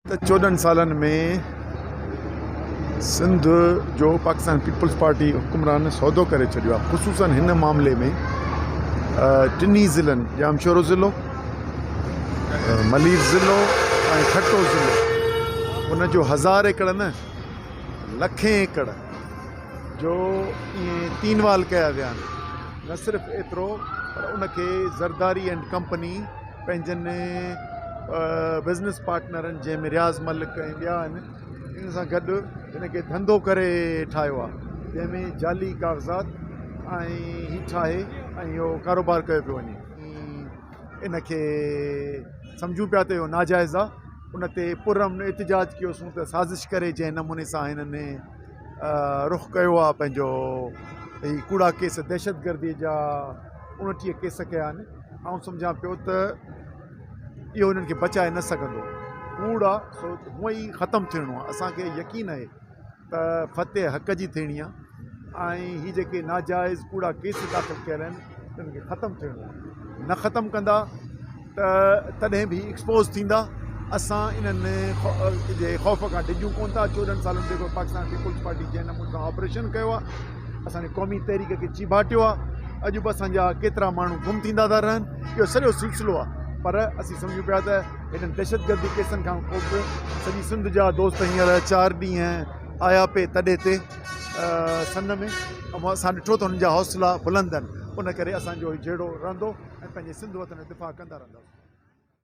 ته چوڏهن سالن ۾ سنڌ جو پاڪستان پيپلز پارٽي حڪمران سودو ڪري ڇڏيو آهي خصوصن هن معاملي ۾ ٽنهي ضلعن ڄامشورو ضلعو ملير ضلعو ۽ ٺٽو ضلعو ان جو هزار ايڪڙ نه لکين ايڪڙ جو ائين تين وال ڪيا ويا آهن نه صرف ايترو پر ان کي زرداري اينڊ ڪمپني پنهنجن بزنس پارٽنرن جنهن ۾ رياض ملڪ ۽ ٻيا آهن انهن سان گڏ هن کي ڌنڌو ڪري ٺاهيو آهي جنهن ۾ جعلي ڪاغذات ۽ هي ٺاهي ۽ اهو ڪاروبار ڪيو پيو وڃي ان کي سمجهون پيا ته اهو ناجائز آهي ان تي پر امن احتجاج ڪيوسون ته سازش ڪري جنهن نموني سان هنن رخ ڪيو آهي پنهنجو هي ڪوڙا ڪيس دهشت گردي جا اڻٽيهه ڪيس ڪيا آهن آئون سمجهان پيو ته اهو انهن کي بچائي نه سگهندو. ڪوڙ آ سو هونء ئي ختم ٿيڻو آ. اسان کي يقين آهي ته فتح حق جي ٿيڻي آ ۽ هي جيڪي ناجائز ڪوڙا ڪيس داخل ڪيل آهن تن کي ختم ٿيڻو آ. نه ختم ڪندا ته تڏهن به ايڪسپوز ٿيندا. اسان انهن جي خوف کان ڊڄون ڪونه ٿا. چوڏهن سالن تي پاڪستان پيپلز پارٽي جنهن نموني سان آپريشن ڪيو آ. اسان جي قومي تحريڪ کي چيڀاٽيو آ اڄ به اسان جا ڪيترا ماڻهو گم ٿيندا ٿا رهن اهو سڄو سلسلو آ پر اسين سمجهون پيا ته هنن دهشتگردي ڪيسن کان پوء به سڄي سنڌ جا دوست هينئر چار ڏينهن آيا پي تڏي تي سن ۾ اسان ڏٺو ته هنن جا حوصلا بلند آهن ان ڪري اسان جو هي جهيڙو رهندو ۽ پنهنجي سنڌ وطن جو دفاع ڪندا رهنداسون.